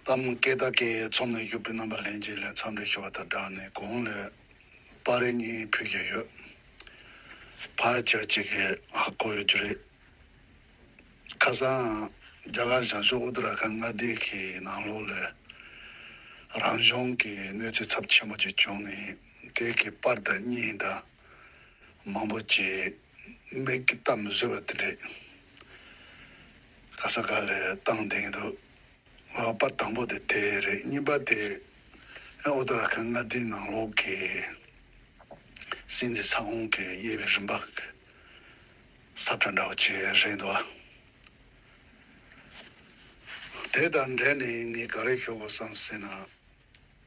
ལྷ་མོ་སྐེ་རྟ་ཀའི་ཚོགས་ནས་བཞུགས་པའི་རྣམ་པ་ལྷན་སྐྱེས་ལས་མཚམས་རེ་ཤི་བ་དང་སྦྲགས་ནས་གོང་ལས་སྤར་རེ་གཉིས་ཕུལ་བཞིན་ཡོད། ཕར་ཆེར་གཅིག་གིས་ཧ་གོ་ཡོད་རྒྱུ་རེད། ཁ་སང་རྒྱ་གར་ཞང་ཞུང Uttarakhand མངའ་སྡེ་གི་ནང་ལོགས་ལས་རང་གཞུང་གི་གནོད་འཚེ་ཚབས་ཆེན་པོ་ཅིག་བྱུང་ནས་དེ་གི་པར་དང་རྙིང་དང་མང་པོ་ཅིག་མིག་གིས་བལྟ་མི་བཟོད་པ་དེ་འདྲས། ག་ས་ག་ལས་བཏང་བསྡད་འདུག་ང་ལ་པར་དང་པོ་དེ་དེ་རེད་གཉིས་པ་དེ་ཨོ་ཏོ་ར་ཁ་མངའ་སྡེའི་ནང་ལོགས་ཀྱི་སྲིད་འཛིན་ས་ཁོངས་ཀྱི་དབྱེ་བའི་རིམ་པ་གསར་འཕྲོས་འདྲ་བོ་བྱས་རེད་འདུག་དེ་དང་འབྲེལ་ནས་ངས་ག་རེ་ཤོད་དགོས་སམ་ཟེར་ན།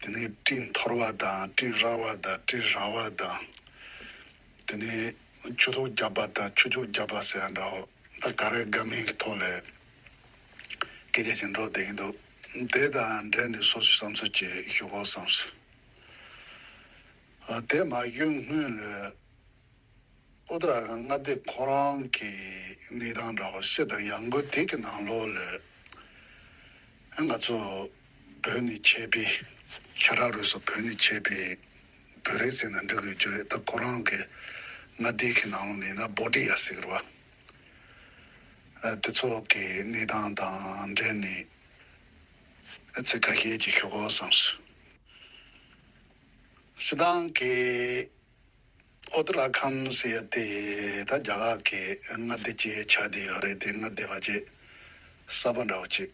དེ་ནས་དྲི་འཐོར་བ་དང་དྲི་ར་བ་དང་དྲི་ར་བ་དང། དེ་ནས་ཆུ་ཐོག་བརྒྱབ་པ་དང་ཆུ་ཆོག་བརྒྱབ་པ་ཟེར་ཡ་འདྲ་ཧོ། ད་ག་རེ་དགའ་མིན་གྱི་ཐོག་ལས་སྐད་ཆ་ཞིག་འགྲོ་བསྡད་ཀྱི་འདུག་དེ་དང་འབྲེལ་ནས་སོ་སོའི་བསམ་ཚུལ་ཅིག་ཞུ་དགོས་བསམ། དེ་མ་གཡོལ་སྔོན་ལོས། ཨོ་ད་ར་གནའ་དེབ་ཁོ་རང་གི་གནས་སྟངས་འདྲ་བ་ཤེས་དང་ཡང་སྒོས་དེ་གི་ནང་ལོག་ལས་ཨེ་ང་ཚོ་བོད་ནས་ཆས་པའི་ཤ་ཁྲག་རུས་སོགས་བོད་ནས་ཆས་པའི་བོད་རིགས་ཟེར་ན་འགྲིག་ཡོད་རྒྱུ་རེད་ད་ཁོ་རང་གི་གནའ་དེབ་གི་ནང་ལོག་ལས་ན་བོ་ཏི་ཡ་ཟེར་བ་དེ་ཚོ་གི་གནས་སྟངས་དང་འབྲེལ་ནས་ཨེ་ཚེ་ཁ་ཤས་ཀྱི་ཞུ་གོ་བསམ་སོང། ཤི་དང་གི་ཨོ་ཏི་ར་ཁམ་ཟེར་ཡ་དེ་ད་རྒྱ་གར་གྱི་མངའ་སྡེ་ཅེས་བྱ་དེ་ཡོད་རེད་དེ་མངའ་སྡེ་བ་ཅེས་གསར་པ་འདྲ་བོ་ཅིག་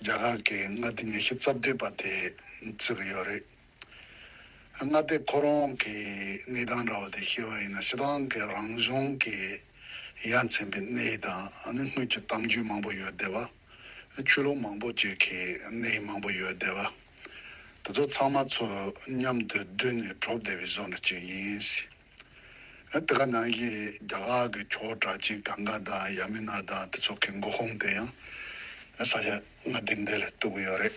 རྒྱ་གར་གྱི་མངའ་སྡེ་ཉེ་ཤི་རྩ་བདུན་པ་དེས་བརྩི་གི་ཡོད་རེད། མངའ་སྡེ་ཁོ་རང་གི་གནས་སྟངས་འདྲ་བོ་དེ་ཤི་བ་ཡིན་ན་ཤི་ཐང་གི་རང་གཞུང་གི་ཡ་མཚན་པའི་གནས་དང་ནི་དངུལ་གྱི་གཏམ་རྒྱུད་མང་པོ་ཡོད་དེ་བ། ཆོས་ལུགས་མང་པོ་བཅས་ཀྱི་གནས་ཡིག་མང་པོ་ཡོད་བསྡད་པ། དེ་ཚོ་ཚང་མ་ཚོ་མཉམ་དུ་བསྡུས་ནས་གྲོགས་བསྡད་པའི་བཟོ་འདྲ་ཅིག་ཡིན་སྲིད། དེ་ག་ནང་གི་རྒྱ་གར་གྱི་ཁྱོ་གྲ་ཅིག་ག་འགའ་དང་ཡ་མི་ན་དང་དེ་ཚོ་གི་མགོ་ཁུངས་དེ་ཡང་ས་ཆ་ང་འདི་འདི་ལ་གཏུགས་ཡོད་རེད།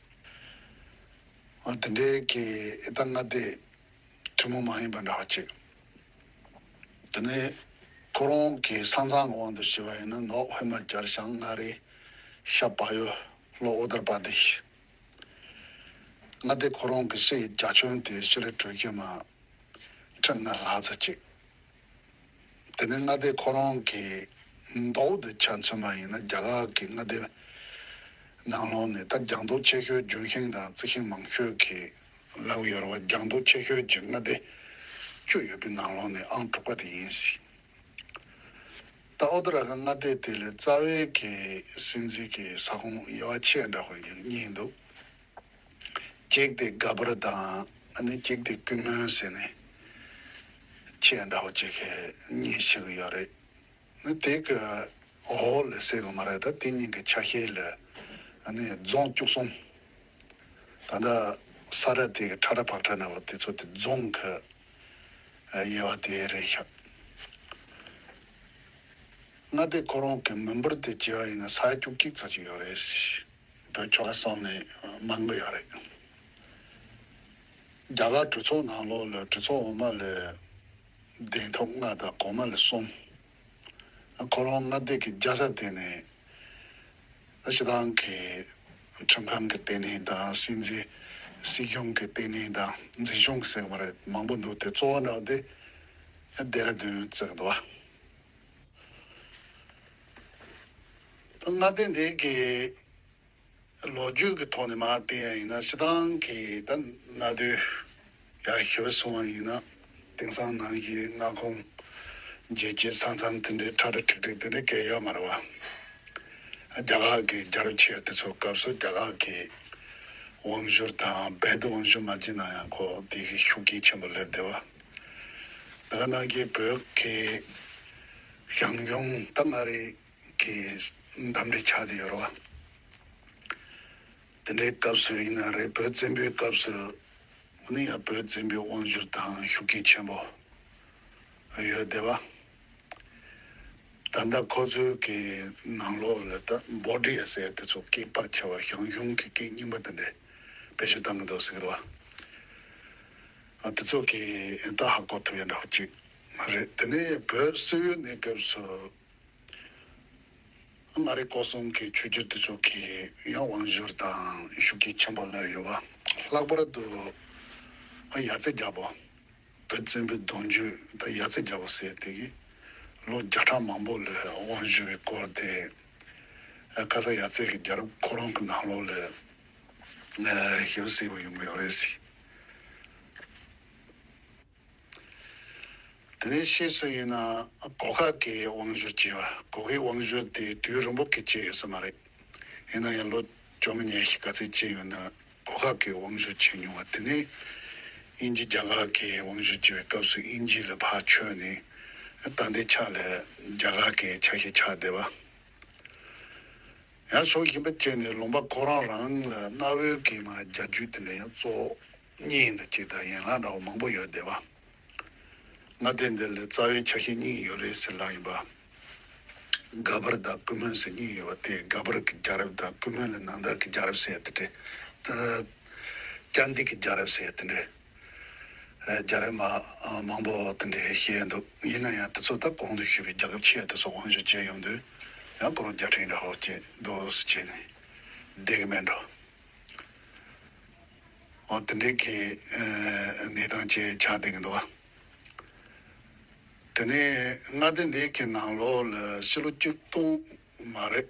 འདི་འདྲའི་གི་ཨི་ད་ང་དེ་ཁྲི་མོ་མ་ཡིན་པ་འདྲ་བ་ཅིག་དེ་ནས་ཁོ་རང་གི་ས་མཚང་གི་དབང་དུ་ཤི་བ་ཡིན་ན་ནོག་དབེ་མ་ཀྱར་ཞང་མངའ་རིས་ཤ་བ་ཡོས་ལོ་ཨོ་དར་པ་དིས་མངའ་དེ་ཁོ་རང་གི་ཤི་ཡི་རྒྱ་ཁྱོན་དེ་ཤི་རི་གྲོས་ཁྱེད་མ་ཁྲི་མངའ་ལྷ་ཚ་ཅིག། དེ་ནས་མངའ་སྡེ་ཁོ་རང་གི་མདོག་དེ་ཆ་མཚོན་པ་ཡིན་ན་རྒྱ་ལག་གི་མངའ་སྡེ་ནང་ལོགས་ནས་ད་རྒྱང་ཐོག་ཆེ་ཤོས་ལྗོན་ཤིང་དང་རྩི་ཤིང་མང་ཤོས་ཀྱི་ལག་ཡོར་བ་རྒྱང་ཐོག་ཆེ་ཤོས་ཀྱི་མངའ་སྡེ་བཅུ་ཡོད་པའི་ནང་ལོགས་ནས་ཨང་དྲུག་པ་དེ་ཡིན་སྲིད། ད་ཨོ་ཏི་ར་ཁ་མངའ་སྡེ་དེ་ལས་རྩ་བའི་གི་སྲིད་འཛིན་གྱི་ས་ཁོངས་དབྱེ་བ་ཆེས་འདྲ་བ་གཉིས་འདུག་བགེགས་དེ་དགའ་བར་དང་ནི་བགེགས་དེ་ཀུན་སྨོན་ཟེར་ནས་ཁྱེད་འདྲ་བོ་ཅི་ག་གཉིས་ཤིག་ཡོད་རེད་ནི་དེ་གི་འོག་ལ་བསད་གི་མ་རེད་ད་དེ་གཉིས་ཀྱི་ཆ་ཤས་ལ་ནི་རྫོང་བཅུག་སོང་ད་ལྟ་ས་ར་དེ་གི་ཁྲ་ར་བག་ཁྲ་ན་བ་དེ་ཚོ་དེ་རྫོང་གི་དབྱེ་བ་དེ་རེད་ཤག་ང་དེ་ཁོ་རང་གི་མི་འབོར་དེ་བྱེ་བ་ཡིན་ན་ས་རྒྱུག་ཀྱིག་ཚར་གྱི་ཡོད་རེད། བོད་ཆོལ་ཁ་སོགས་ནས་མང་པོ་ཡོད་རེད། རྒྱ་གར་གྲོས་ཚོགས་ནང་ལོགས་ལ་གྲོས་ཚོགས་འོག་མ་ལས་གདན་ཐོབ་ལྔ་དང་གོང་མ་ལས་གསུམ། ཁོ་རང་མངའ་སྡེ་གི་རྒྱལ་ས་དེ་ནས་ཕྱི་ཐང་གི་ཁྲིམས་ཁང་གི་ལྟེ་གནས་དང་སྲིད་འཛིན་སྲིད་སྐྱོང་གི་ལྟེ་གནས་དང་འཛིན་སྐྱོང་གི་སེང་མོ་རེད་མང་པོ་འདུག་དེ་གཙོ་བོ་འདྲ་བ་དེ་རྡེ་ར་རྡུན་བརྩེགས་འདུག་བ། མངའ་སྡེ་འདི་གའི་ལོ་རྒྱུས་ཀྱི་ཐོག་ནས་མ་བལྟས་ཡང་ཡིན་ན་ཕྱི་ཐང་གི་ད་གནའ་དུས་ཡར་ཤི་བ་སོང་བ་ཡིན་ན་དེང་སང་ནང་གི་མངའ་ཁོངས་རྒྱལ་སྤྱིའི་ས་མཚམས་དེ་འདྲའི་ཁྲ་ཁྲ་ཁྲིག་ཁྲིག་དེ་འདྲའི་སྐད་ཡོད་མ་རེད་བ། རྒྱ་ཁག་གི་རྒྱལ་རབས་ཆེ་དེ་ཚོའི་སྐབས་སུ་རྒྱ་ཁག་གི་དབང་བཞུར་དང་རྦད་དེ་དབང་བཞུར་མ་བྱས་ན་ཡང་ཁོ་དེ་གའི་ཤུགས་རྐྱེན་ཆེན་པོ་སླེབས་བསྡད་བ། ལ་ནག་རྒྱལ་བོད་ཀྱི་ཞང་ཞུང་རྟ་མངའ་རིས་ཀྱི་འདམ་རའི་ཆ་དེ་ཡོད་རེད་བ། དེ་འདྲའི་སྐབས་སུ་ཡིན་ན་རེད་བོད་བཙན་པོའི་སྐབས་སུ་མུ་ནེ་ཡང་བོད་བཙན་པོའི་དབང་བཞུར་དང་ཤུགས་རྐྱེན་ཆེན་པོ་ཡོད་བསྡད་བ། ད་ལྟ་ཁོ་ཚོའི་གི་ནང་ལོག་ལ་ད་འབོ་དྲི་ཡ་སེ་དེ་ཚོ་སྐད་པར་ཆེ་བ་ཞང་ཞུང་གི་སྐད་རྙིང་པ་དེ་འདྲས་དཔེ་བཤུ་བཏང་གི་འདུག་ཟེར་གི་རེད་བ། ཨ་དེ་ཚོ་གི་ཨེ་ད་ཧ་གོ་ཐུབ་ཡ་འདྲ་བོ་ཅིག་མ་རེད་དེ་ནས་བོད་སིལ་བུའི་གནས་སྐབས་སུ་ཨ་མ་རི་ཀོ་གསུམ་གི་ཆོས་རྒྱུད་དེ་ཚོ་གི་ཡང་དབང་བཞུར་དང་ཤུགས་རྐྱེན་ཆེན་པོ་ལོས་ཡོད་བ་ལྷག་པར་དུ་ཨ་ཡ་ཚེ་རྒྱ་བོ་བོད་བཙན་པོའི་གདུང་རྒྱུད་ད་ཡ་ཚེ་རྒྱ་བོ་ཟེར་དེ་གི་ལོ་བརྒྱ་ཕྲག་མང་པོ་ལོས་དབང་བཞུར་བའི་སྐོར་དེ་ཨ་ཁ་ས་ཡ་ཚེ་གི་རྒྱལ་རབས་ཁོ་རང་གི་ནང་ལོགས་ལས་ཞིབ་གསལ་པོ་ཡོང་གི་ཡོད་རེད་ཟེར། དེ་ནས་ཕྱིས་སུ་ཡིན་ན་གོ་ཁ་གི་དབང་བཞུ་བྱས་པ་གོ་ཁའི་དབང་བཞུ་དེ་དུས་རིང་པོ་གི་བྱས་ཡོད་ས་མ་རེད། ཡིན་ན་ཡང་ལོ་བཅོ་ལྔ་ཉེར་བཞི་ག་ཚད་ཅིག་ཡོད་ན་གོ་ཁ་གི་དབང་བཞུ་བྱས་མྱོང་བ་དེ་ནས་དབྱིན་ཇི་རྒྱ་གར་གི་དབང་བཞུ་བྱས་པའི་སྐབས་སུ་དབྱིན་ཇི་ལ་ཕར་ཆོས་ནས་ད་ལྟའི་ཆ་ལ་རྒྱ་གར་གི་ཆ་ཞིག་ཆགས་བསྡད་པ། ཡང་ཕྱོགས་གཞན་པ་བཅས་ནས་ལུང་པ་ཁོ་རང་རང་ལ་གནའ་བོའི་སྐད་ངག་རྒྱ་རྒྱུད་དེ་འདྲ་ཡང་གཙོ་གཉིས་ཡིན་འདྲ་ཅིག་དང་ཡན་ལག་འདྲ་བ་མང་པོ་ཡོད་བསྡད་པ། ང་བསྡད་འདི་ལ་རྩ་བའི་ཆ་ཤས་གཉིས་ཡོད་རེད་ཟེར་ལག་ཡིན་པ། སྒ་པར་དང་ཀུན་སྨོན་ཟེར་གཉིས་ཡོད་པ་དེ་སྒ་པར་གྱི་རྒྱ་རབས་དང་ཀུན་སྨོན་ལ་ནང་བསྟན་གྱི་རྒྱ་རབས་ཟེར་ཡ་དེ་འདྲ། སྐྱ་འདི་གི་རྒྱ་རབས་ཟེར་ཡ་དེ་འདྲ། རྒྱ་རིགས་མང་པོ་དེ་འདྲའི་བཤད་འདུག་ཡིན་ན་ཡང་དེ་ཚོ་ད་གོང་དུ་ཞུས་པའི་རྒྱ་ཁབ་ཆེ་དེ་ཚོ་དབང་ཞུ་བྱས་ཡོང་དུས་ཡང་སྐུ་རུ་རྒྱ་ཕྲན་འདྲ་ཧོ་ཅེས་རྡོ་སུ་བྱས་ནས་བསྡད་གི་མེད་འགྲོ། འོ་དེ་འདྲའི་གི་ནས་དང་བཅས་ཆགས་བསྡད་གི་འདུག་དེ་ནས་མངའ་སྡེ་འདི་གི་ནང་ལོགས་ལ་ཕྱི་ལོ་བཅུ་སྟོང་མ་རེད།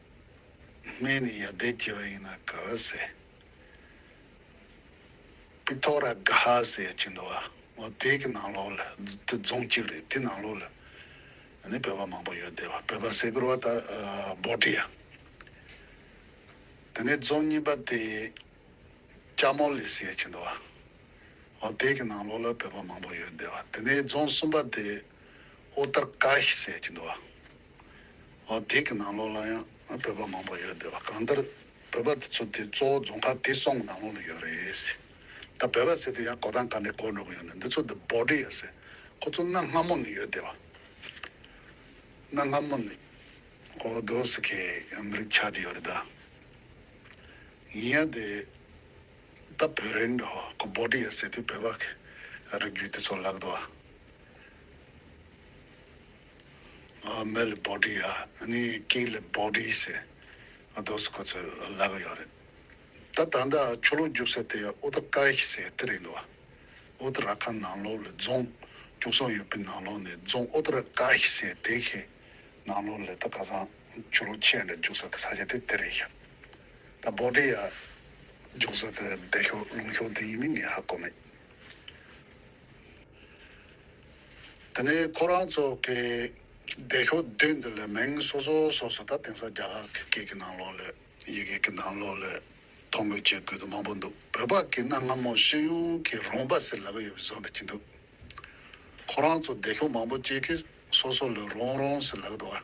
སྨན་ནི་ཡར་འདེད་བགྱི་བ་ཡིན་ན་ག་ར་ཟེ། པི་ཏོ་ར་གྷ་ཟེ་བྱེད་འདུག་བ་མོ་དེ་གི་ནང་ལོགས་ལ་དེ་རྫོང་གཅིག་རེད་དེ་ནང་ལོགས་ལ་ནི་བོད་པ་མང་པོ་ཡོད་དེ་བོད་པ་ཟེ་གུར་བ་ད་བོ་ཏི་ཡ། དེ་ནས་རྫོང་གཉིས་པ་དེ་ལྕ་མོ་ལི་ཟེ་བྱེད་འདུག་བ་མོ་དེ་གི་ནང་ལོགས་ལ་བོད་པ་མང་པོ་ཡོད་དེ་བ་དེ་ནས་རྫོང་གསུམ་པ་དེ་ཨོ་ཏར་ཀ་ཤི་ཟེ་བྱེད་འདུག་བ་བརྡེག་གི་ནང་ལོགས་ལ་ཡང་བོད་པ་མང་པོ་ཡོད་འདོད་པ་གང་ལྟར་བོད་པ་དེ་ཚོ་དེ་གཙོ་བོ་རྫོང་ཁག་བདེ་སྲུང་གི་ནང་ལོགས་ལ་ཡོད་རེད། ད་བོད་པ་ཟེར་དུས་ཡང་གོ་ཐང་ག་ནས་གོ་འགྲོ་གི་ཡོད་ནི་འདི་ཚོ་དེ་འབོར་འདྲི་ཡོད་ཟེར་ཁོ་ཚོ་གནའ་སྔ་མོ་ནས་ཡོད་འདོད་པ། གནའ་སྔ་མོ་ནས་ཧོ་རྡོ་སི་ཁའི་ཨ་མི་རིག་ཆགས་ཀྱི་ཡོད་རེད་ད། ཡིན་ཡང་དེ་ད་བོད་རིག་འདྲ་བོ་ཁོ་འབོར་འདྲི་ཡོད་ཟེར་དུས་བོད་པ་གི་རིགས་རྒྱུད་དེ་ཚོ་ལག་ཏུ། མེལ་བོ་ཏི་ཡ་ནི་ཀི་ལི་བོ་ཏི་ཟེར་འདུག་ཁོ་ཚོས་ལབ་ཡོད་རེད་ད། ད་ལྟ་ཆོ་ལོ་རྒྱུགས་ས་དེ་ཨུ་ཏི་ཀ་ཧི་ཟེར་དེ་རེད་འདུག་ཨུ་ཏི་ར་ཁ་ནང་ལོགས་ལས་རྫོང་རྒྱུགས་སོང་ཡོད་པའི་ནང་ལོགས་ནས་རྫོང་ཨུ་ཏི་ར་ཀ་ཧི་ཟེར་དེ་གི་ནང་ལོགས་ལས་ད་ཁ་སང་ཆོ་ལོ་ཆས་ནས་རྒྱུགས་ས་གི་ས་ཆ་དེ་དེ་རེད་ཤག་ད་བོ་ཏི་ཡ་རྒྱུགས་ས་དེ་བདེ་ཤོག་ལུང་ཤོག་དེ་ཡིན་མིན་ངས་ཧ་གོ་མེད། དེ་ནས་ཁོ་རང་ཚོ་གི་སྡེ་ཤོག་བདུན་འདི་ལ་མིང་སོ་སོ་སོ་སོ་དང་དེང་སང་རྒྱ་གར་གི་སྐད་ཀྱི་ནང་ལོགས་ལས་ཡི་གེ་ཀྱི་ནང་ལོགས་ལས་ཐོ་འགོད་བྱེད་དགོས་དོན་མང་པོ་འདུག་བོད་པ་ཀྱི་གནའ་སྔ་མོ་ཤེས་ཡོན་གྱི་རོང་པ་ཟེར་ལ་ག་ཡོད་པའི་བཟོ་འདྲ་གྱི་འདུག་ཁོ་རང་ཚོ་སྡེ་ཤོག་མང་པོ་སྐྱེས་ཀྱི་སོ་སོ་ལས་རོང་རོང་ཟེར་ལ་ག་འདུག་ཨ།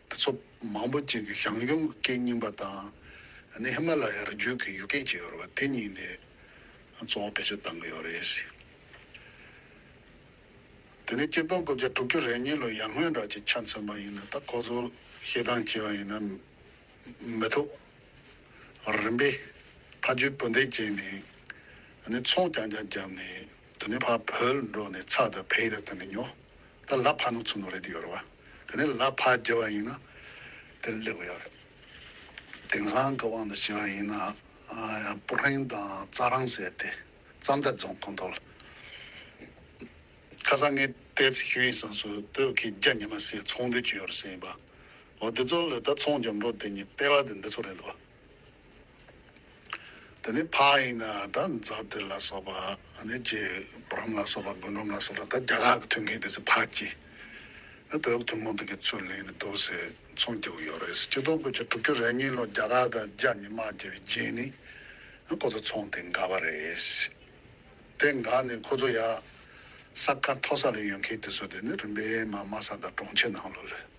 ཏུ་ཚོགས་མང་པོ་ཅིག་གིས་ཞང་ཞུང་གི་སྐད་རྙིང་པ་དང་ནི་ཧི་མ་ལ་ཡར་རྒྱུད་ཀྱི་ཡུལ་སྐད་ཅིག་ཡོད་པ་དེ་གཉིས་ནས་གཙོ་བོ་ཕལ་ཆེར་བཏང་གི་ཡོད་རེད། དེ་ནས་སྤྱི་ལྡོག་དགུ་བརྒྱ་དྲུག་ཅུ་རེ་གཉིས་ལོ་ཡར་སྔོན་རག་ཅིག་ཆ་མཚོན་པ་ཡིན་ན་ད་ཁོ་ཚོར་ཤེས་སྟངས་སྐྱེ་བ་ཡིན་ན་མི་ཐུག་རིམ་པས་ཕ་རྒྱུད་སྤུན་ཟླས་བཅད་ནས་ནི་ཚོགས་ཀྱང་ཀྱང་བརྒྱབ་ནས་དུ་ནི་ཕ་བོད་འགྲོ་ནས་ཚ་དང་བེད་དང་ནི་ཉོ། ད་ལ་ཕ་ནང་ཚུགས་ནོ་རེད་ཡོད་རེད་བ། དེ་ནས་ལ་ཕ་རྒྱལ་བ་ཡིན་ན་དེ་ལེགས་པ་ཡོད་རེད། དེང་སང་གི་དབང་དུ་བྱས་པ་ཡིན་ན་ཡང་པུ་ཧྲེང་དང་རྩྭ་རང་ཟས་དེ་རྩྭ་མདའི་རྫོང་ཁོང་དོ་ལ། ཁ་སང་ངས་བལྟས་ཚེ་ཞུ་ཡིག་སང་སུ་སྟོད་ཁའི་རྒྱ་ཉི་མ་སེ་ཚོང་འདུས་ཀྱི་ཡོད་རེད་ཟེར་ཡིན་པ། འོ་དེ་ཚོ་ལ་ད་ཚོང་རྒྱབ་འགྲོ་དེ་ཉིད་ལྟེ་བ་དེ་འདི་ཚོ་རེད་འདུག་བ། དེ་ནས་ཕ་ཡིན་ན་ད་འཛག་བདེ་ལ་སོགས་པ་ཨ་ནེ་རྗེ་བུ་རམ་ལ་སོགས་པ་དགོན་འབྲོམ་ལ་སོགས་པ་ད་རྒྱ་གར་གྱི་ཐུན་ཁེ་དེ་ཚོས་ཕར་གྱིས་ཨ་བོད་ཐུན་མོང་ཐུན་ཁེ་ཚུར་ལེན་ནི་དོགས་ཟས་ཚོང་སྐྱེ་བོ་ཡོད་རེད་སྤྱི་ལྡོག་དགོས་ཆ་དྲུག་བཅུ་རེ་གཉིས་ལོ་རྒྱ་གར་དང་རྒྱ་ཉི་མ་རྒྱལ་བའི་རྗེས་ནི་ཨ་ཁོ་ཚོ་ཚོང་དེ་འགག་པ་རེད། དེ་འགག་ནས་ཁོ་ཚོ་ཡག་ས་ཁ་མཐོ་ས་ལ་ཡོད་མཁན་དེ་ཚོ་དེ་ནི་རིམ་པས་མ་དམའ་ས་དང་གྲོང་ཁྱེར་ནང་ལོགས་རེད།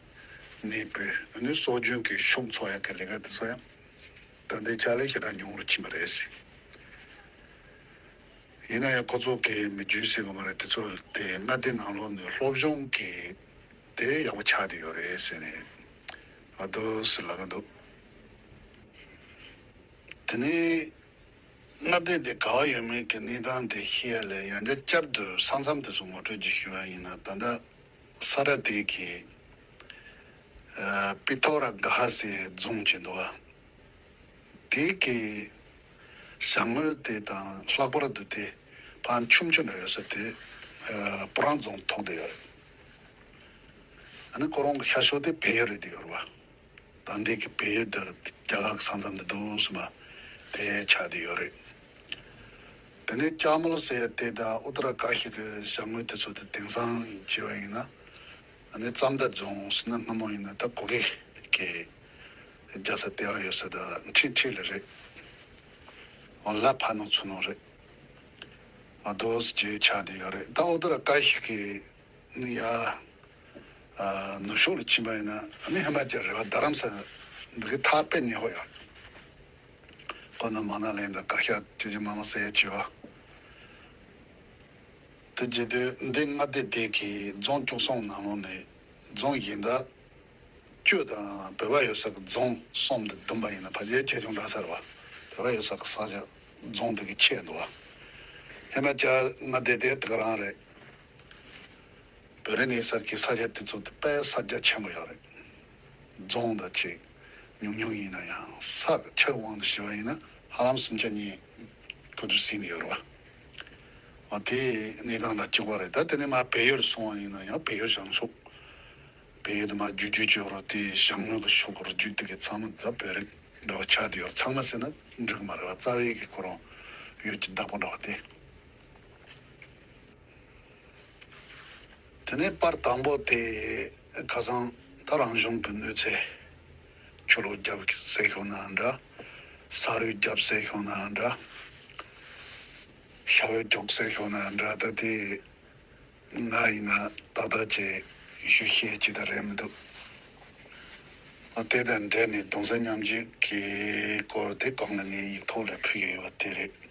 ནས་བོད་མདོའི་སྲོལ་རྒྱུན་གྱི་ཤོག་མཚོ་གཡག་གི་ལས་ཀ་འདི་ཚོ་ཡང་ད་ལྟའི་ཅག་ལས་ཞེ་དྲག་ཉུང་རུ་ཕྱིན་པ་རེད་སྲིད། ཡིན་ན་ཡང་ཁོ་ཚོ་གས་མི་རྒྱུད་སྲིད་གོ་མ་རེད་དེ་ཚོ་དེ་སྔ་སྡེ་ནང་ལོག་ནས་སློབ་སྦྱོང་གི་དེ་ཡག་པོ་ཆགས་ཏེ་ཡོད་རེད་ཟེར་ནས་ཨ་དོ་ཟེར་ལ་ག་འདུག་དེ་ནས་སྔ་སྡེ་དེ་ག་བ་ཡོད་མེད་ཀྱི་གནས་སྟངས་དེ་ཤེས་ཡ་ལས་ཡང་བསྐྱར་དུ་ས་མཚམས་དེ་ཚོ་ངོ་སྤྲོད་རྒྱུ་ཞུས་པ་ཡིན་ན་ད་ལྟ། སཱ་ར་དེ་གི་པི་ཐོ་ར་གྷ་སའི་རྫོང་གི་འདུ་བ་དེ་གི་བྱང་ངོས་དེ་དང་ལྷག་པར་དུ་དེ་བ་ཆུམ་ཆུམ་ཡོད་ས་དེ་པུ་རང་རྫོང་ཐོག་དེ་ཡོད་རེད། ཨ་ནི་ཁོ་རང་གི་ཤ་ཤོ་དེ་བལ་ཡུལ་རེད་དེ་ཡོད་རེད་བ། དང་འདི་གི་བལ་ཡུལ་འདིར་རྒྱ་ལག་ས་མཚམས་འདི་འདུག་ཟེར་མ་དེ་ཆ་དེ་ཡོད་རེད། དེ་ནས་སྐྱ་མོ་ལོ་ཟེར་ཡ་དེ་དང་ཨུ་ཏི་ར་ཀ་ཞིག་གི་བྱ་དངོས་དེ་ཚོ་དེ་དེང་སང་བྱས་པ་ཡིན། ཨ་ནི་རྩམ་དག་རྫོང་ཟེར་ན་སྔ་མོ་ཡིན་ན་ད་གོ་གེ་གེ་རྒྱ་ས་དེ་བ་ཡོད་ས་ད་འཁྲིག་འཁྲིག་ལེ་རེད། འོ་ལ་ཕ་ནོ་ཚུ་ནོ་རེད། མ་དོ་ཟེར་གྱི་ཆ་དེ་ཡོད་རེད་ད་ཨུ་ཏི་ར་ཀ་ཞིག་གི་ནི་ཡ། ནུབ་ཕྱོགས་ལ་ཕྱིན་པ་ཡིན་ན་ནི་ཧི་མ་ཅལ་རེད་བ་རྡ་རམ་ས་ལ་འདི་གའི་ཐག་པས་ནི་ཧོ་ཡ། ཀོ་ན་མ་ན་ལའི་འདི་བཀའ་ཤག་ཅི་ཅི་མ་མ་ཟེར་ཡས་བྱས་བ། དེ་རྗེས་དུས་འདི་མངའ་སྡེ་དེ་གའི་རྫོང་བཅུ་གསུམ་ནང་ལོང་ནས་རྫོང་གཞན་དག་བཅུ་དང་བོད་པ་ཡོད་ས་གི་རྫོང་གསུམ་དུ་བསྡུམ་པ་ཡིན་ན་བ་རྒྱའི་ཆེ་ཆུང་འདྲ་སར་བ་བོད་པ་ཡོད་ས་གི་ས་ཆ་རྫོང་དེ་གའི་ཆེད་འདུག་བ། ཧི་མ་ཅལ་མངའ་སྡེ་དེ་དེ་ག་རང་རེད། བོད་རིགས་གནས་སའི་ས་ཆ་དེ་ཚོ་དེ་དཔལ་ས་རྒྱ་ཆེན་པོ་ཡོད་རེད། རྫོང་དང་བཅས་ཉུང་ཉུང་ཡིན་ན་ཡང་ས་ག་ཆགས་དབང་དུ་བྱས་པ་ཡིན་ན་ཧ་ལམ་སུམ་ཆ་གཉིས་དགུ་དུ་ཟིན་ཡོད་རེད། འོ་དེ་གནས་གང་ལ་བཅུག་པ་རེད་ད་དེ་ནས་མ་བལ་ཡུལ་སོང་བ་ཡིན་ན་ཡང་བལ་ཡུལ་བཞག་ཆོག་བལ་ཡུལ་དུ་མ་བརྒྱུད་རྒྱུ་ཅོ་རོ་དེ་ཞང་ངོས་ཀྱི་ཕྱོགས་ཀྱི་རུ་རྒྱུད་དེ་གའི་ཚང་མ་ད་བོད་རིགས་འདྲ་བ་ཆགས་དེ་ཡོད་རེད་ཚང་མ་ཟེར་ན་འགྲིག་གི་མ་རེད་བ་རྩ་བའི་གི་ཁོ་རང་ཡུལ་གྱི་བདག་པོ་འདྲ་བ་དེ། དེ་ནས་པར་དང་པོ་དེ་ཁ་སང་ད་རང་གཞུང་གི་གནོད་འཚེ་ཆོས་ལུགས་རྒྱབ་སྲས་ཤོག་ན་འདྲ་ས་རུའི་རྒྱབ་སྲས་ཤོག་ན་འདྲ་ཤ་བོའི་རྒྱོགས་སྲས་ཤོག་ན་འདྲ་ད་དེ་ང་ཡིན་ན་ཏག་ཏག་ཅེས་ཞུ་ཤེས་ཅི་ད་རེད་མི་འདུག་ཨ་དེ་དང་འབྲེལ་ནས་གདུང་སེམས་མཉམ་བསྐྱེད་ཀྱི་སྐོར་དེ་གང་ལ་ངའི་ཡིག་ཐོག་ལས་ཕུལ་ཡོད་པ་དེ་རེད།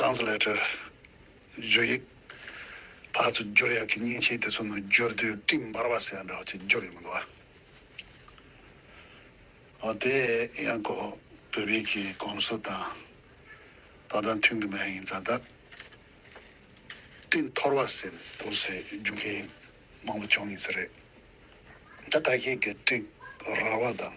Translator། བརྗོད་ཡིག། བར་དུ་སྦྱོར་ཡག་གི་སྙིང་ཆེན་དེ་ཚོ་ནང་སྦྱོར་དུས་སྤྲིན་འབར་བ་ཟེར་ཡ་འདྲ་བ་ཅིག་སྦྱོར་ཡོད་མི་འདུག་ཨ། འོ་དེ་ཡང་ཀོ་བོད་པའི་གི་གོམས་སྲོལ་དང་ད་ལྟ་མཐུན་གི་མ་ཡིན་ད་ལྟ་སྤྲིན་འཐོར་བ་ཟེར་འདུག་ཟེར་རྒྱུ་མཁན་མང་པོ་བྱུང་ཡིན་ས་རེད་ད་ད་ཁྱེད་ཀྱི་སྤྲིན་རར་བ་དང་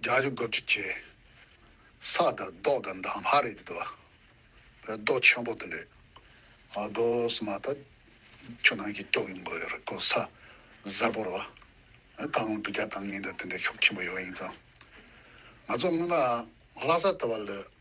རྒྱ་གཞུང་སྐབས་ཀྱི་ཁྱེད། ས་དང་རྡོག་དང་མདའ་མ་རེད་དོ། བོད་རྡོ་ཆེན་པོ་དེ་འདྲས། ཨ་རྡོ་སི་མ་ད། ཁྱོད་རང་གིས་སྐྱོགས་ཡོང་དགོས་རེད་ཀོ་ས། གཟར་པོ་རོ། ད་འང་དུ་རྒྱ་དང་ངན་དང་དེ་འདྲས་ཤོག་ཆེན་པོ་ཡོད་ཡིན་ཙང། ང་ཚོ་སྔོན་མ་ལྷ་ས་ད་བ་ལོས།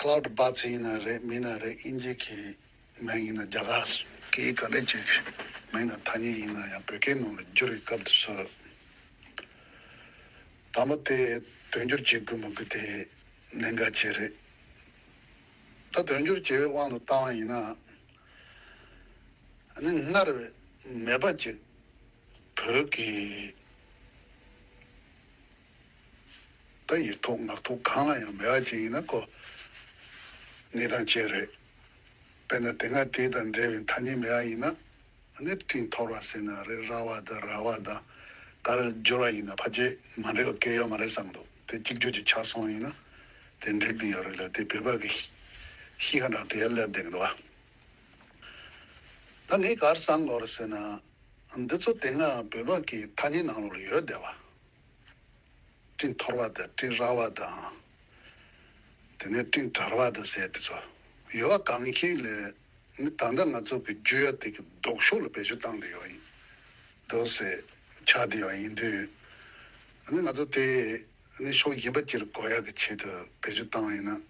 Cloud Bats ཡིན་ན་རེད་མིན་ན་རེད་དབྱིན་ཇི་གི་མིང་ཡིན་ན་རྒྱ་གར་གི་ག་རེ་ཅིག་གི་མིང་དང་ཐ་སྙད་ཡིན་ན་ཡང་བོད་སྐད་ནང་ལ་བསྒྱུར་བའི་སྐབས་དུ་སུ་དང་པོ་དེ་དོན་སྒྱུར་བྱེད་དགོས་མ་དགོས་དེ་གནད་འགག་ཅིག་རེད། ད་དོན་སྒྱུར་བྱེད་པའི་དབང་དུ་བཏང་བ་ཡིན་ན་ནི་སྔར་བས་མེད་པ་ཅིག་བོད་ཀྱི། ད་ཡིག་ཐོག་ངག་ཐོག་གང་ལ་ཡང་མེད་བ་ཅིག་ཡིན་ན་ཀོ། ནི་དང་བཅས་རེད། དཔེར་ན་དེ་སྔ་དེ་དང་འབྲེལ་བའི་ཐ་སྙད་མེད་བ་ཡིན་ན། ནི་སྤྲིན་འཐོར་བ་ཟེར་ན་རེད་ར་བ་དང་ར་བ་དང། ད་རེར་སྦྱོར་བ་ཡིན་ན་ཕ་རྗེས་མ་འབྲེལ་བ་སྐད་ཡོད་མ་རེད་བསམ་འདུག་དེ་གཅིག་གྱུར་གྱི་ཆ་སོང་ཡིན་ན། དེ་འགྲིག་འདི་ཡོད་རེད་ལ་དེ་བོད་པ་གི་གཤིས་ཀ་འདྲ་དེ་ཡང་སླེབས་བསྡད་འདུག་བ། ད་ངས་གར་བསམ་གོ་རེ་ཟེར་ན། འདི་ཚོ་དེ་སྔ་བོད་པ་གི་ཐ་སྙད་ནང་ལོགས་ལ་ཡོད་བསྡད་བ། སྤྲིན་འཐོར་བ་དང་སྤྲིན་རལ་བ་དང། དེ་ནས་སྤྲིན་དར་བ་དང་ཟེར་དེ་ཚོ་ཡོད་བ་གང་ཞིག་ལས་ནི་ད་ལྟ་ང་ཚོ་གི་རྒྱུ་ཡོད་དེ་གི་ལྡོག་ཕྱོགས་ལ་བེད་སྤྱོད་བཏང་དེ་ཡོད་ཡིན་འདུག་ཟེར་ཆ་དེ་ཡོད་ཡིན་དུས། ནི་ང་ཚོ་དེ་ནི་ཕྱོགས་གཞན་པ་གྱིར་དགོས་ཡག་གི་ཆེད་དུ་བེད་སྤྱོད་བཏང་ཡོད་ན་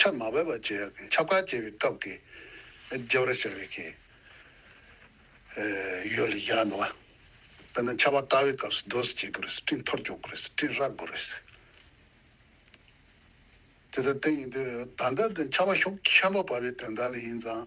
ཁྱབ་མ་བོད་པ་བཅས་ཁྱབ་ཁ་བྱེད་པའི་སྐབས་ཀྱི་རྗེ་བར་བྱ་བའི་ཁྱད་ཡོད་ལ་ཡང་ནོ། དཔེར་ན་ཆ་བ་ཀ་བའི་སྐབས་སུ་རྡོ་སུ་བྱེད་དགོས་རེད་སྤྲིན་མཐོར་འཇོག་དགོས་རེད་སྤྲིན་རག་དགོས་རེད། དེ་ལྟར་དེ་ཡིན་དུས་ད་ལྟ་དེ་ཆ་བ་ཤོག་ཁྱམས་པ་བར་བའི་དོན་དག་ལ་ཡིན་ཙང།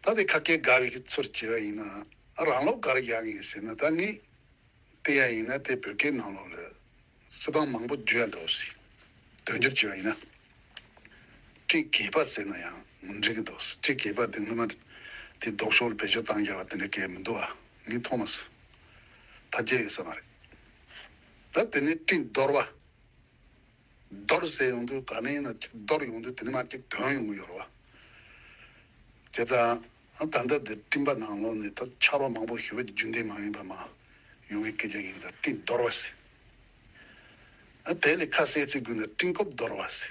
ད་དེ་ཁ་སྐད་འགའ་རེ་ཁྱེད་ཚོར་བྱས་པ་ཡིན་ནའང་རང་ལོག་ག་རེ་བཞག་ཡིན་ཟེར་ན་ད་ནི། དེ་ཡང་ཡིན་ན་དེ་བོད་སྐད་ནང་ལོག་ལས། གསོལ་སྟངས་མང་པོ་བརྗོད་ཡ་འགྲོ་བ་སྲིད། དོན་སྒྱུར་བྱས་པ་ཡིན་ན། བཀྲིས་དགེས་པ་ཟེར་ན་ཡང་མི་འགྲིག་གི་འདུག་བཀྲིས་དགེས་པ་དེ་སྔོན་མ། དེ་ལྡོག་ཕྱོགས་ལ་བེད་སྤྱོད་བཏང་རྒྱ་བ་དེ་འདྲ་སྐད་མི་འདུག་ཨ། ངས་མཐོང་མ་སོད། ད་བརྒྱད་ཡོད་ས་མ་རེད། ད་དེ་ནི་བཀྲིས་འདོར་བ། རྡོར་བཟས་ཡོང་དུས་ག་ནས་ཡིན་ན་ཅིག་རྡོར་ཡོང་དུས་དེ་ནས་མ་ཅིག་དོན་ཡོང་གི་ཡོད་རེད་བ། ཁྱེད་ཚ་ད་ལྟ་འདིར་སྤྲིན་པ་ནང་ལོགས་ནས་ད་ཆར་བ་མང་པོ་ཞུ་བའི་རྒྱུན་ལྡན་མ་ཡིན་པ་མ་ཡོང་གི་སྐད་ཆ་ཡིན་ཚ་སྤྲིན་རྡོར་བ་ཟེར། དེ་ལས་ཁ་གསལ་ཚིག་དགོས་ན་སྤྲིན་རྐུབ་རྡོར་བ་ཟེར།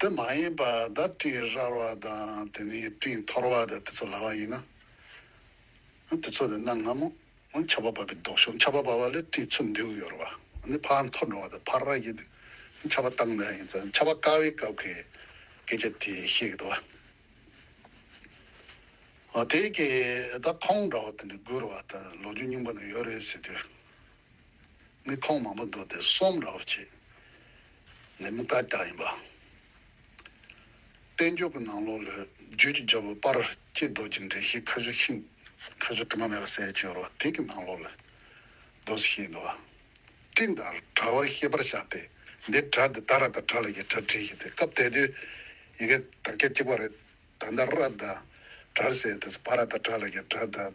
དེ་མ་ཡིན་པར་བརྡ་སྤྲིན་རལ་བ་དང་དེ་ནས་སྤྲིན་འཐོར་བ་དང་དེ་ཚོ་ལ་བ་ཡིན་ན། དེ་ཚོ་ལས་གནའ་སྔ་མོ་ཆར་པ་བབས་པའི་ལྡོག་ཕྱོགས་ཆར་པ་བབས་པ་ལས་སྤྲིན་ཚུར་འདུས་ཡོད་རེད་བ། འདི་ཕར་འཐོར་འགྲོ་བ་དང་ཕར་རལ་གྱི་དུས་ཆར་པ་བཏང་མེད་ཡིན་ཙང་ཆར་པ་དཀའ་བའི་སྐབས་ཀྱི་སྐད་ཆ་དེ་བཤད་གི་འདུག་བ། དེའི་སྐད་ད་ཁོང་འདྲ་བ་དེ་འདྲ་སྒུར་བ་དང་ལོ་རྒྱུས་རྙིང་པ་ན་ཡོད་རེད་ཟེར་དུས། མི་ཕོངས་མང་པོ་འདུག་དེ་གསོམ་ར་བར་བྱེད་ནས་མི་དཀར་དཀར་ཡིན་པ། བསྟན་འགྱུར་གྱི་ནང་ལོ་ལོས་བརྗོད་ཀྱི་རྒྱལ་པོ་སྤར་སྐྱེས་རྡོ་རྗེ་འདྲེན་བཞིའི་ཕོ་གཟུགས་ཤིང་ཕོ་གཟུགས་དྲི་མ་མེད་པ་གསལ་བྱེད་རོ་དེ་གི་ནང་ལོ་ལོས་རྡོ་གཟུགས་ཤིང་ཡིན་པ། སྤྲིན་དང་དྲ་བར་ཤེས་པར་བྱ་སྟེ་འདིར་དྲ་དེ་ད་ར་དང་དྲ་ལ་ཡི་དྲ་བྲིས་ཤིག་དེ་སྐབས་དེ་དུས་ཡི་གེ་དག་སྐད་གཅིག་པ་རེད་ད་ད་ར་དང་དྲར་ཟེར་དེ་སྤར་ར་དང་དྲ་ལ་ཡི་དྲ་དང།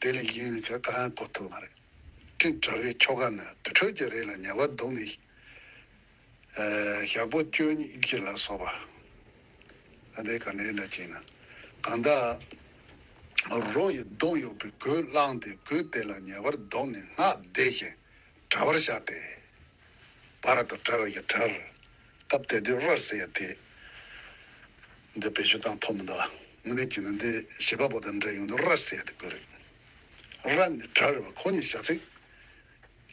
དེ་ལས་གཞན་ནི་ཆོ་ག་གོ་ཐུབ་མ་རེད། སྤྲིན་དྲ་བའི་ཆོ་ག་ནི་དུར་ཁྲོད་ཀྱི་རས་ལ་ཉལ་བ་འདུག་ནས། ཞག་པོ་བཅུ་གཉིས་ཀྱི་ལ་སོགས་པ། ཨ་དེ་ག་ནས་འདྲ་བྱས་ན། གང་དག་རོ་ཡི་གདོང་གཡོགས་པའི་གོས་བླངས་ཏེ་གོས་དེ་ལ་ཉལ་བར་འདོགས་ནས་སྔགས་བཟླས་ཤིང་དྲ་བར་བཞག་སྟེ། བར་དོ་དྲ་བའི་དྲར། སྟབས་དེ་དུས་རར་ཟེར་ཡ་དེ། འདི་བེད་སྤྱོད་བཏང་ཐོག་མི་འདུག་ཨ། དངོས་གནས་བྱས་ན་འདི་བྱིས་པ་པོ་དང་འདྲ་ཡོང་དུས་རར་ཟེར་ཡ་དེ་དགོས་རེད། རར་ནི་གྲ་རེད་བ་ཁོ་གཉིས་བཞག་ཚེ།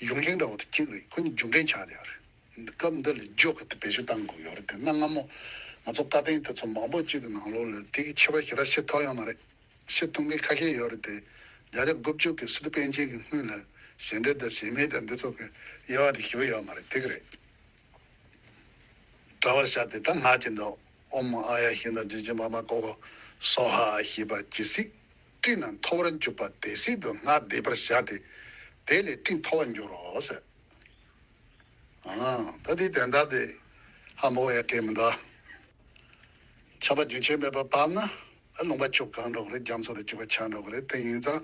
ཡུང་ཁེང་འདྲ་བ་དེ་གཅིག་རེད་ཁོ་གཉིས་རྒྱུག་འབྲེལ་ཆགས་ཡོད་རེད། སྐབས་འདི་ལ་འཇོག་གི་དེ་བེད་སྤྱོད་བཏང་དགོས་ཡོད་རེད་དེ་སྔ་སྔ་མོ། ང་ཚོ་བཀའ་བསྟན་དེ་ཚོ་མང་པོ་གཅིག་གི་ནང་ལོག་ལོས་དེ་གི་ཆེ་བ་ཞིག་ར་ཤེས་ཐོག་ཡོད་མ་རེད། ཤེས་ཐུབ་མཁན་ཁ་ཤས་ཡོད་རེད་དེ། རྒྱ་ཆ་དགུ་བཅུ་གི་སི་ཏུ་པན་ཅན་གི་སྔུན་ལ་ཞེ་འདྲེ་དང་ཞེ་མེད་དང་འདི་ཚོ་གི་དབྱེ་བ་དེ་ཞིབ་ཡོད་མ་རེད་དེ་གི་རེད། བ་བྱ་སྟེ་དང་སྔགས་ཀྱི་མདོ། ཨོམ་མ་ཨ་ཡ་ཤིང་དང་རྗེས་བཅིངས་པ་མ་ཀོ་ཀོ། སྭོ་ཧ་ཞེས་པ་ཇི་སྲིད་སྤྲིན་རྣམས་འཐོར་བར་འཇུག་པ་དེ་སྲིད་དུ་སྔགས་བཟླས་པར་བྱ་སྟེ། དེ་ལས་སྤྲིན་འཐོར་བར་འགྱུར་རོ། ད་དེའི་དན་རྟགས་ཏེ། ཧ་མོ་ཨ་ཡ་ཀའི་མི་འདའ། ཆགས་པ་རྒྱུན་ཆད་མེད་པར་བབས་ན། ལུང་པ་ཁྱུག་གང་འགྲོ་གི་རེད་རྒྱ་མཚོ་དང་གཅིག་པ་ཆགས་འགྲོ་གི་རེད་དེ་ཡིན་ཙང།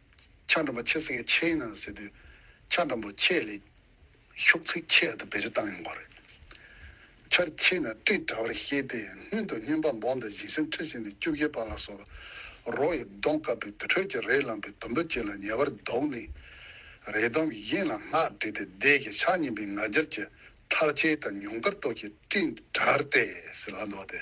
ཕྱག་འགྲམ་པ་ཆེ་ཟེར་མཁན་ཆེ་ཡིན་ནམ་ཟེར་དུས། ཕྱག་འགྲམ་པོ་ཆེ་ལས། ཤོག་ཚིག་ཆེ་དང་བེ་རི་བཏང་ཡོང་གོ་རེད། ཆར་ཆེ་ན་སྤྲིན་དྲ་བར་ཤེས་ཏེ་སྣོད་དུ་སྙོན་པ་འབོང་དང་བཞིན་སེམས་ཁྲེལ་བཞིན་དུ་སྐྱུག་གེ་པ་ལ་སོགས་པ་རོ་ཡི་གདོང་དཀར་པོའི་དུར་ཁྲོད་ཀྱི་རས་ལངས་པའི་དུམ་བུ་བཅས་ལ་ཉེ་བར་བསྡོགས་ནས། རས་དུམ་གྱི་གཡེང་ལ་སྔགས་བྲིས་ཏེ་བཟླས་ཀྱིས་ཕྱག་བསྙེམས་པའི་ང་རྒྱལ་གྱིས་མཐར་ཆེ་དང་ཉུང་ཀར་གཏོགས་ཀྱིས་སྤྲིན་དྲར་ཏེ་ཟིལ་ལ་འདོགས་ཏེ།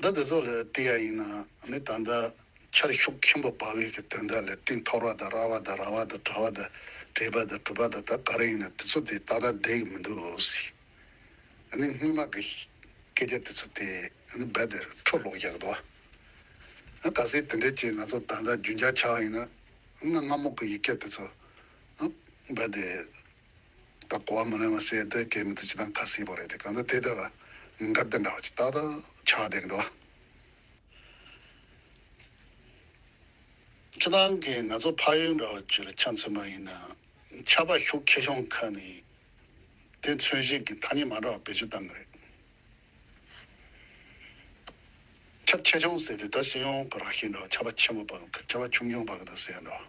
འདི་དེ་ཚོ་ལས་དེ་ཡང་ཡིན་ནའང་ད་ལྟ་ཆར་ཤུགས་མཁན་པོ་དཔའ་བོའི་གི་དོན་དག་ལས་སྤྲིན་ཐོར་བ་དང་ར་བ་དང་ར་བ་དང་དྲ་བ་དང་བྲེས་པ་དང་གྲུབ་པ་དང་ད་ག་རེ་ཡིན་ནའི་དེ་ཚོ་དེ་ད་ལྟ་བསྡད་གི་མི་འདུག་སི་ཨ་ནི་དངུལ་མ་གི་སྐད་ཆ་དེ་ཚོ་དེ་རྦད་དེ་འཕྲོ་ལོག་རྒྱག་དུ་ཨ་ག་སེ་དེ་འདྲས་ཀྱི་ང་ཚོ་ད་ལྟ་རྒྱུན་འཇགས་ཆགས་ཡིན་ནའང་སྔ་མོ་གི་ཡི་གེ་དེ་ཚོ་རྦད་དེ་ད་གོ་བ་མ་ལོན་བ་སེ་ད་གས་མི་ཐུབ་ཅི་དང་ག་སྲིད་པོ་རེད་དེ་གང་ད་དེ་ད་ལ་འགར་དེ་འདྲ་བ་ཅིག་ཏག་ཏག་ཆགས་བསྡད་གི་འདུག་བ། ཁྱེད་རང་གིས་ང་ཚོ་ཕ་ཡུལ་འདྲ་བ་བཅུ་ལ་ཆ་མཚོན་པ་ཡིན་ན་ཆ་པ་ཤུགས་ཁེ་གཞུང་ཁ་ནས་དེ་མཚོན་བྱེད་ཀྱི་ཐ་སྙད་མ་འདྲ་བ་བེད་སྤྱོད་བཏང་གི་རེད། ཆ་ཁེ་གཞུང་ཟེར་དུས་ད་སྤྱི་ཡོངས་ཀྱི་རགས་ཤིག་འདྲ་བ་ཆ་པ་ཆེན་པོ་བ་དང་ཆ་པ་ཆུང་ཆུང་བ་ག་ད་ཟེར་ཡ་འདྲ་བ།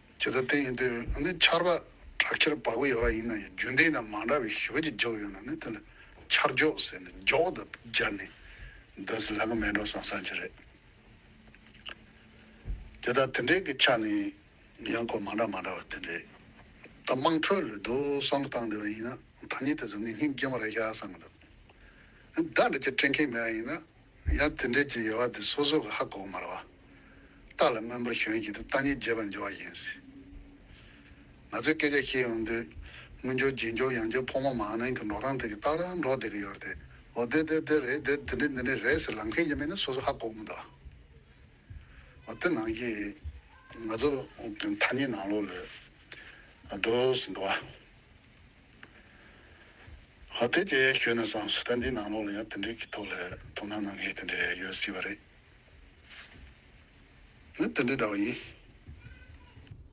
ཇི་ལྟར་བསྟན་ཡོད་དུས་ནི་ཆར་པ་དྲག་ཆར་དཔའ་བོ་ཡོད་པ་ཡིན་ན་ཡང་རྒྱུན་ལྡན་དང་མ་འདྲ་བའི་ཞི་བ་ཅིག་འཇོག་ཡོད་ན་ནི་དེ་ལ་ཆར་འཇོག་ཟེར་ནས་འཇོག་དང་སྦྱར་ནས་འདོན་ཟེར་ལ་གོ་མེད་འགྲོ་བསམ་བསམ་གྱི་རེད། དེ་ལྟར་དེ་འདྲའི་གི་ཆ་ནི་ཡང་གོ་མ་འདྲ་མ་འདྲ་བ་དེ་འདྲའི་ད་དམངས་ཁྲོད་ལ་རྡོ་བསམ་བཏང་བསྡད་པ་ཡིན་ན་ཐ་སྙད་དེ་ཚོ་ངེས་ངེས་རྒྱུན་མ་ར་ཤ་བསམ་གི་འདུག་ཨ་འདྲ་འདྲ་ཅིག་སྤྲད་མཁན་མེད་པ་ཡིན་ན། ཡང་དེ་འབྲེལ་གྱི་ཡོལ་བ་དེ་སོ་སོ་གི་ཧ་གོ་མར་བ་རྟགས་ལ་མངོན་པར་ཞོན་བཞིན་དུ་རྟགས་གཉིས་རྒྱས་པར་འབྱོར་བ་ཡིན་སྲིད། ང་ཚོས་སྐད་ཆ་བཤད་ཡོང་དུས་དངོས་འབྱོར་རྗེས་འབྱོར་ཡང་འབྱོར་ཕོ་མོ་མ་ནིང་གི་འགྲོ་སྟངས་དེ་གི་རྟགས་རང་འགྲོ་བསྡད་གི་ཡོད་རེད་དེ། འོ་དེ་དེ་དེ་རེད་དེ་འདི་འདི་འདི་འདི་རེད་ཟེར་ལབ་མཁན་གྱི་མི་ནི་སོ་སོ་ཧ་གོ་མི་འདུག་ཨ། འོ་དེ་ནང་གི། ང་ཚོ་ཐ་སྙད་ནང་ལོགས་ལས། བསྡོད་ཟིན་འདུག་ཨ། ལྷ་དེ་དེ་ཞོན་ནས་བཟང་སུ་ད་འདི་ནང་ལོག་ལ་ཡང་དེ་འདྲའི་གི་ཐོག་ལས་དོ་ན་ནང་གི་དེ་འདྲའི་ཡོད་སྲིད་པ་རེད། ནི་དེ་འདྲའི་འདྲ་བ་ཡིན།